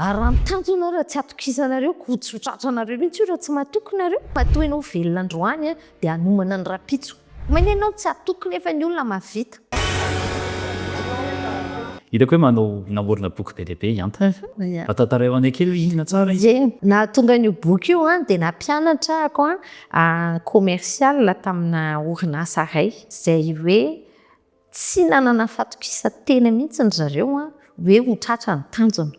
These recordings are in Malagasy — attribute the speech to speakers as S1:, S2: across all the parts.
S1: Araho tanjona ianao raha tsy atokisanareo ko tsy ho tratranareo mihitsy io raha tsy matoky nareo. Matoa ianao velona androany dia hanomana ny rapitso. Maina ianao tsy hatoky nefa ny olona mahavita.
S2: Hitako hoe manao namorona boky be dia be i Anta e. Mba tantaraeo anay kely hoe inona tsara izy? Ie, nahatonga an'io
S1: boky io an, dia nampianatra ako an commercial tamina orinasa iray izay hoe Tsy nanana fahatokisan-tena mihitsy ry zareo hoe ho tratra ny tanjona.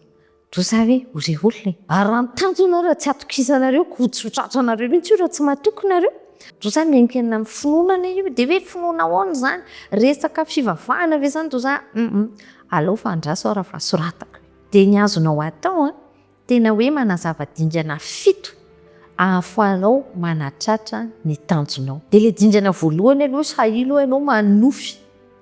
S1: Toa izay hoe ho re olona e! Ary raha ny tanjona raha tsy hatokisanareo koa tsy ho tratranareo mihitsy io raha tsy matoky nareo. Toa izay miankina amin'ny finoana anie io e! Dia hoe finoana ahoana izany? Resaka fivavahana ve izany toa izay? Hum! Alao fa andraso aho raha fahasoratako e! Dia ny azonao atao an! Tena hoe manazava dingana fito ahafahanao manatratra ny tanjonao. Dia ilay dingana voalohany aloha izy hainao hoe ianao manonofy.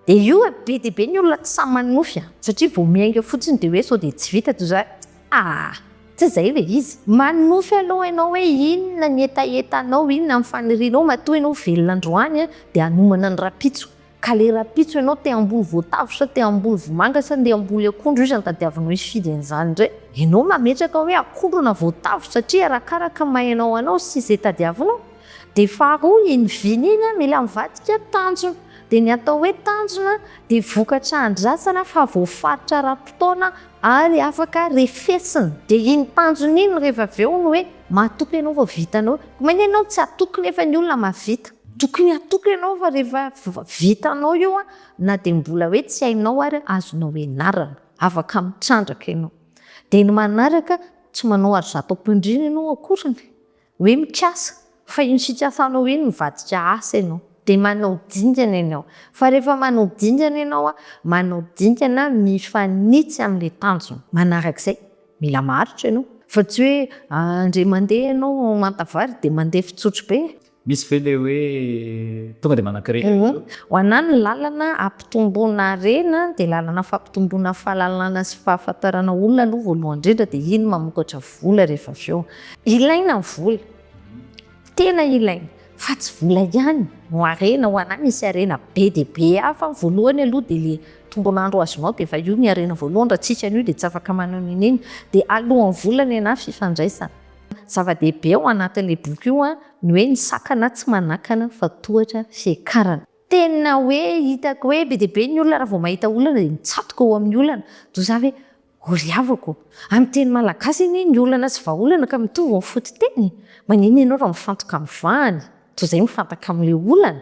S1: Dia io e, be dia be ny olona tsy sahy manonofy an! Satria vao miainga fotsiny dia hoe sao dia tsy vita toy izany. Aa! Tsy izay ilay izy. Manonofy aloha ianao hoe inona ny hetahetanao, inona ny fanirianao, matoa ianao velona androany dia hanomana ny rahampitso. Ka le rapitso enao te hamboly voatavo sa te hamboly vomanga sa nde hamboly akondro iza no tadiavinao hifidy an'izany ndray? Enao mametraka hoe akondro na voatavo satria arakaraka mahaenao anao sy ze tadiavinao. De faharoa iny vina iny an mila mivadika tanjona. De ny atao hoe tanjona de vokatra andrasana fa voafaritra ara-potoana ary afaka refesina. De iny tanjona iny rehfa avy eo no hoe mahatoky enao vao vitanao. Ko maina enao tsy hatoky nefa ny olona mahavita. Tokony hatoky ianao fa rehefa vitanao io na dia mbola hoe tsy hainao ary azonao ianarana, afaka mitrandraka ianao. Dia ny manaraka, tsy manao ary zato am-pandriana ianao akoriny hoe mikasa fa iny fikasanao iny mivadika asa ianao. Dia manao dingana ianao. Fa rehefa manao dingana ianao, manao dingana mifanitsy amin'ilay tanjona manarak'izay. Mila maharitra ianao. Fa tsy hoe indray mandeha ianao manta vary dia mandeha fitsotro be. Misy ve le hoe
S2: tonga de manankirina eo? Ho anah ny
S1: lalana hampitomboana harena dia lalana fampitomboana fahalalana sy fahafantarana olona aloha voalohany indrindra dia iny mamokatra vola rehefa avy eo. Ilaina ny vola, tena ilaina fa tsy vola ihany no harena, ho anah misy harena be dia be hafa ny voalohany aloha dia le tombon'andro azonao dia efa io ny harena voalohany, raha tsisy an'io dia tsy afaka maneho n'inona dia alohan'ny vola ny anah fifandraisana. Zava-dehibe ao anatin'io boky io ny hoe ny sakana tsy manakana fa tohatra fiakarana. Tena hoe hitako hoe be dia be ny olona raha vao mahita olana dia mitsatoka eo amin'ny olana. Toa za ve ho ry havako? Amin'ny teny malagasy anie ny olana sy vahaolana ka mitovy ny fototeny. Maninona ianao raha mifantoka amin'ny vahany? Toa izay mifantoka amin'ilay olana.